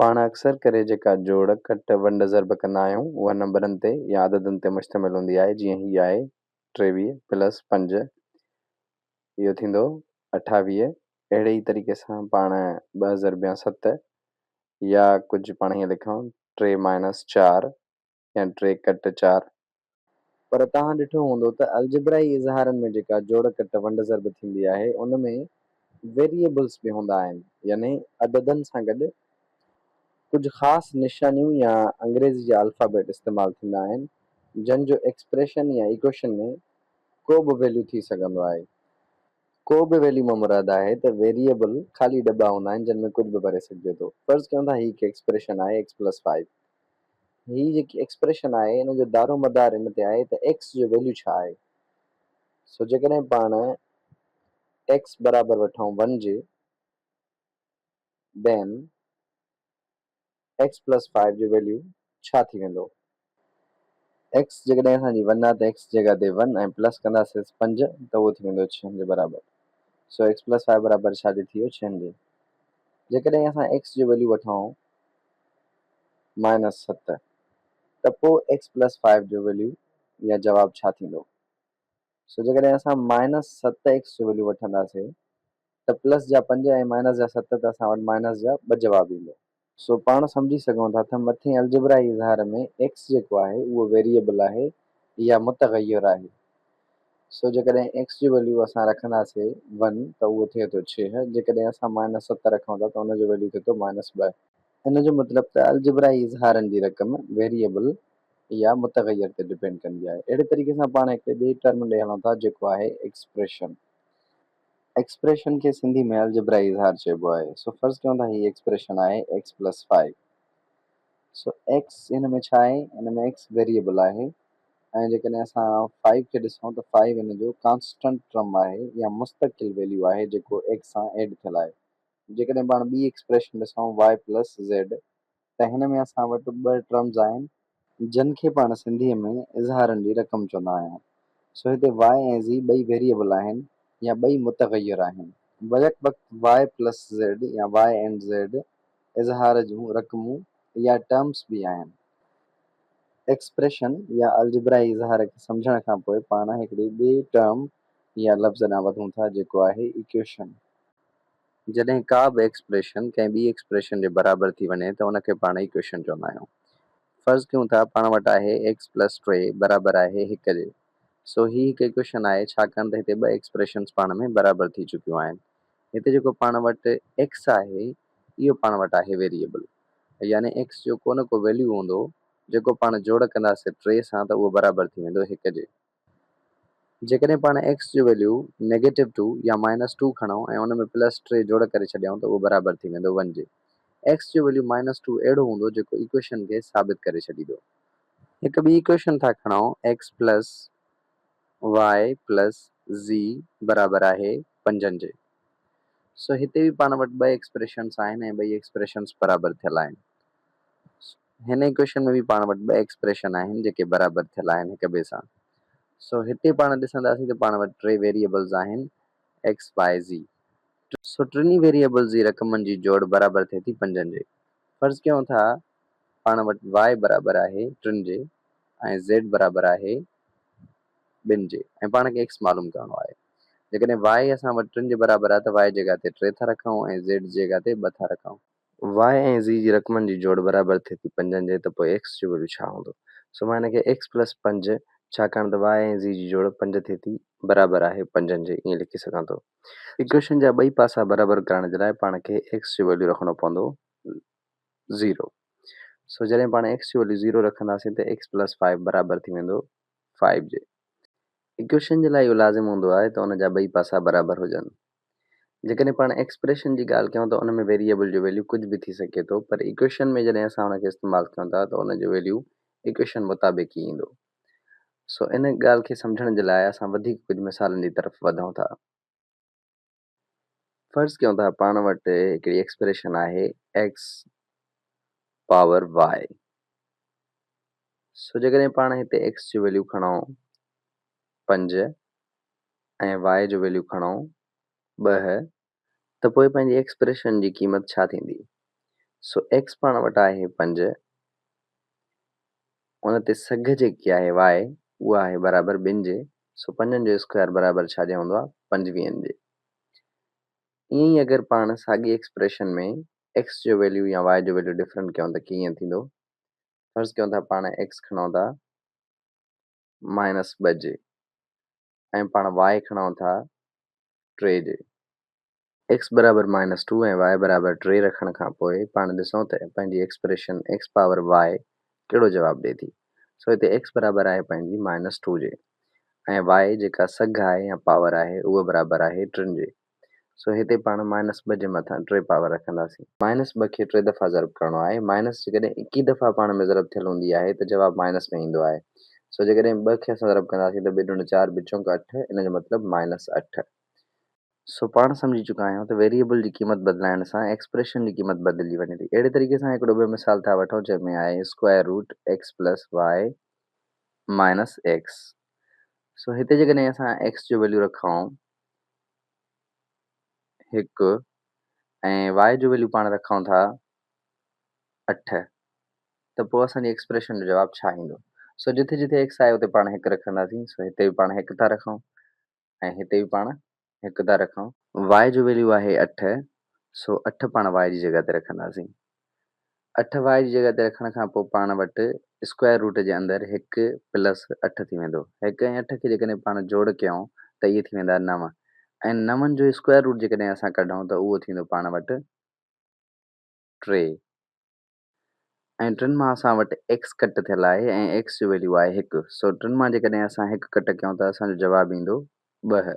پاڻ اڪثر ڪري جيڪا جوڙ، ڪٽ، ونڊ، ضرب ڪندا آهيون، اها نمبرن تي يا عددن تي مشتمل هوندي آهي، جيئن هي آهي، ٽيويهه پلس پنج، اهو ٿيندو اٺاويهه. اهڙي ئي طريقي سان پاڻ ٻه ضربيان ست يا ڪجهه پاڻ هيئن لکون، ٽي مائنس چار، يا ٽي ڪٽ چار. پر توهان ڏٺو هوندو ته الجبرائي اظهارن ۾ جيڪا جوڙ ڪٽ ونڊ ضرب ٿيندي آهي ان ۾ ويريئبلز به هوندا آهن يعني عددن سان گڏ ڪجهه خاص نشانيون يا انگريزي جا الفابيٽ استعمال ٿيندا آهن جن جو ايڪسپريشن يا ايڪوئيشن ۾ ڪو به ويليو ٿي سگهندو آهي. ڪو به ويليو مان مراد آهي ته ويريئبل خالي ڊٻا هوندا آهن جن ۾ ڪجهه به ڀري سگهجي ٿو. فرض ڪيون ٿا هي هڪ ايڪسپريشن آهي ايڪس پلس فائيو هي جيڪي ايڪسپريشن آهي ان جو دارو مدار ان تي آهي ته ايڪس جو ويليو ڇا آهي. سو جيڪڏهن پاڻ ايڪس برابر وٺون ون جي then ايڪس پلس فائيو جو ويليو ڇا ٿي ويندو. ايڪس جيڪڏهن اسان جي ون آهي ته ايڪس جي جڳهه تي ون ۽ پلس ڪنداسينس پنج ته اهو ٿي ويندو ڇهن جي برابر. سو ايڪس پلس فائيو برابر ڇا جي ٿي ويو ڇهن جي. جيڪڏهن اسان ايڪس جو ويليو وٺون مائنس ست، ته پوء ايڪس پلس فائيو جو ويليو يا جواب ڇا ٿيندو؟ سو جيڪڏهن اسان مائنس ست ايڪس جو ويليو وٺنداسي ته پلس جا پنج ۽ مائنس جا ست ته اسان وٽ مائنس جا ٻه جواب ايندو. سو پاڻ سمجهي سگهون ٿا ته مٿين الجبرائي اظهار ۾ ايڪس جيڪو آهي اهو ويريئبل آهي يا متغير آهي. سو جيڪڏهن ايڪس جو ويليو اسان رکنداسي ون ته اهو ٿئي ٿو ڇهه، جيڪڏهن اسان مائنس ست رکون ٿا ته ان جو ويليو ٿئي ٿو مائنس ٻه. هن جو مطلب ته الجبرائي اظهارن جي رقم ويريئبل يا متغير تي ڊپينڊ ڪندي آهي. اهڙي طريقي سان پاڻ هڪڙي ٻئي ٽرم ڏي هلون ٿا جيڪو آهي ايڪسپريشن. ايڪسپريشن کي سنڌي ۾ الجبرائي اظهار چئبو آهي. سو فرض ڪيون ٿا هي ايڪسپريشن آهي ايڪس پلس فائو. سو ايڪس هن ۾ ڇا آهي؟ هن ۾ ايڪس ويريئبل آهي ۽ جيڪڏهن اسان فائو کي ڏسون ته فائو هن جو ڪانسٽنٽ ٽرم آهي يا مستقل ويليو آهي جيڪو ايڪس سان ايڊ ٿيل آهي. جيڪڏهن پاڻ ٻي ايڪسپريشن ڏسون Y پلس Z ته هن ۾ اسان وٽ ٻه ٽرمز آهن جن کي پاڻ سنڌيء ۾ اظهارن جي رقم چوندا آهيون سو هتي Y ۽ Z ٻئي ويريئبل آهن يا ٻئي متغير آهن بيڪ وقت Y پلس Z يا Y اينڊ Z اظهار جون رقمون يا ٽرمز به آهن ايڪسپريشن يا الجبرائي اظهار کي سمجهڻ کان پوء پاڻ هڪڙي ٻئي ٽرم يا لفظ ڏانهن وڌون ٿا جيڪو آهي ايڪويشن جڏهن ڪا به ايڪسپريشن ڪنهن ٻي ايڪسپريشن جي برابر ٿي وڃي ته ان کي پاڻ ايڪويشن چوندا آهيون. فرض ڪيون ٿا پاڻ وٽ آهي ايڪس پلس ٽي برابر آهي هڪ جي. سو هي هڪ ايڪويشن آهي ڇاڪاڻ ته هتي ٻه ايڪسپريشنز پاڻ ۾ برابر ٿي چڪيون آهن. هتي جيڪو پاڻ وٽ ايڪس آهي اهو پاڻ وٽ آهي ويريئبل. يعني ايڪس جو ڪو نه ڪو ويليو هوندو جيڪو پاڻ جوڙ ڪنداسين ٽي سان ته اهو برابر ٿي ويندو هڪ جي. جيڪڏهن پاڻ x جو ويليو نيگيٽو ٽو يا مائنس ٽو کڻون ۽ ان ۾ پلس ٽي جوڙ ڪري ڇڏيائون ته اهو برابر ٿي ويندو ون جي. x جو ويليو مائنس ٽو اهڙو هوندو جيڪو ايڪويشن کي ثابت ڪري ڇڏيدو. هڪ ٻي ايڪويشن ٿا کڻون x plus y plus z برابر آهي پنجن جي. سو هتي به پاڻ وٽ ٻه ايڪسپريشنس آهن ۽ ٻئي ايڪسپريشنس برابر ٿيل آهن. سو. هن ايڪويشن ۾ به پاڻ وٽ ٻه ايڪسپريشن آهن جيڪي برابر ٿيل آهن هڪ ٻئي سان. سو هتي پاڻ ڏسنداسين ته پاڻ وٽ ٽي ويريئبلز آهن ايڪس بائي زي. سو ٽنهي ويريئبلز جي رقمن جي جوڙ برابر ٿئي ٿي پنجن جي. فرض ڪيون ٿا پاڻ وٽ وائي برابر آهي ٽن جي ۽ زيڊ برابر آهي ٻن جي ۽ پاڻ کي ايڪس معلوم ڪرڻو آهي. جيڪڏهن وائي اسان وٽ ٽن جي برابر آهي ته وائي جي جڳهه تي ٽي ٿا رکون ۽ زيڊ جي جڳهه تي ٻه ٿا رکون. واء ۽ زي جي رقمن جي جوڙ برابر ٿئي ٿي پنجن جي ته پوء ايڪس جو ويليو ڇا هوندو؟ سو مان هن کي ايڪس پلس پنج ڇاڪاڻ ته واء ۽ زي جي جوڙ پنج ٿئي ٿي برابر آهي پنجن جي ائين لکي سگهان ٿو. ايڪويشن جا ٻئي پاسا برابر ڪرڻ جي لاء پاڻ کي ايڪس جو ويليو رکڻو پوندو زيرو. سو جڏهن پاڻ ايڪس جو ويليو زيرو رکنداسين ته ايڪس پلس فائيو برابر ٿي ويندو فائيو جي. ايڪويشن جي لاء اهو لازم هوندو آهي ته ان جا ٻئي پاسا برابر هجن. جيڪڏهن پاڻ ايڪسپريشن جي ڳالهه ڪيون ته ان ۾ ويريئبل جو ويليو ڪجهه به ٿي سگهي ٿو پر ايڪويشن ۾ جڏهن اسان ان کي استعمال ڪيون ٿا ته ان جو ويليو ايڪويشن مطابق ئي ايندو. سو ان ڳالهه کي سمجهڻ جي لاء اسان وڌيڪ ڪجهه مثالن جي طرف وڌون ٿا. فرض ڪيون ته پاڻ وٽ هڪڙي ايڪسپريشن آهي x پاور y سو جيڪڏهن پاڻ هتي x جو ويليو کڻون پنج ۽ y جو ويليو کڻئون ٻه ته پوء پنهنجي ايڪسپريشن جي قيمت ڇا ٿيندي؟ سو x پاڻ وٽ آهي پنج ان تي سگهه جيڪي آهي y اها آهي برابر ٻن جي سو پنجن جو اسڪوائر برابر ڇا جي هوندو آهي پنجويهن جي. ائين ئي اگر پاڻ ساڳي ايڪسپريشن ۾ x جو ويليو يا y جو ويليو ڊفرنٽ ڪيون ته ڪيئن ٿيندو؟ فرض ڪيون ٿا پاڻ x کڻئون ٿا مائنس ٻه جي ۽ پاڻ واء کڻئون ٿا ٽي جي. ايڪس برابر مائنس ٽو ۽ واء برابر ٽي رکڻ کان پوء پاڻ ڏسئون ته پنهنجي ايڪسپريشن ايڪس پاور واء ڪهڙو جواب ڏئي ٿي. سو هتي ايڪس برابر آهي پنهنجي مائنس ٽو جي ۽ واء جيڪا سگهه آهي يا پاور آهي اهو برابر آهي ٽن جي. سو هتي پاڻ مائنس ٻه جي مٿان ٽي پاور رکنداسين. مائنس ٻه کي ٽي دفعا ضرب ڪرڻو آهي. مائنس جيڪڏهن ايڪيهه دفعا پاڻ ۾ ضرب ٿيل هوندي آهي ته جواب مائنس ۾ ايندو آهي. سو جيڪڏهن ٻه کي اسان ضرب ڪنداسين ته ٻي ڏڻ چار ٻه چونڪ اٺ ان جو مطلب مائنس اٺ. سو پاڻ سمجهي چڪا آهيون ته ويريئبل جي قيمت بدلائڻ سان ايڪسپريشن جي قيمت بدلجي وڃي ٿي. اهڙي طريقي سان هڪڙو ٻيو مثال ٿا وٺون جنهن ۾ آهي square root x plus y minus x. سو هتي جيڪڏهن اسان ايڪس جو ويليو رکائون هڪ ۽ y جو ويليو پاڻ رکون ٿا اٺ ته پوء اسان جي ايڪسپريشن جو جواب ڇا ايندو؟ سو جتي جتي ايڪس آهي اتي پاڻ هڪ رکنداسين سو هتي به پاڻ هڪ ٿا رکون ۽ هتي به پاڻ هڪ ٿا رکون. y جو ويليو آهي اٺ سو اٺ پاڻ y جي جڳهه تي رکنداسين. اٺ واء جي جڳهه تي رکڻ کان پوء پاڻ وٽ اسڪوائر روٽ جي اندر هڪ پلس اٺ ٿي ويندو. هڪ ۽ اٺ کي جيڪڏهن پاڻ جوڙ ڪيون ته اهي ٿي ويندا نو ۽ نون جو اسڪوائر روٽ جيڪڏهن اسان ڪڍون ته اهو ٿيندو پاڻ وٽ ٽي ۽ ٽن مان اسان وٽ ايڪس ڪٽ ٿيل آهي ۽ ايڪس جو ويليو آهي هڪ سو ٽن مان جيڪڏهن اسان هڪ ڪٽ ڪيون ته اسان جو جواب ايندو ٻه.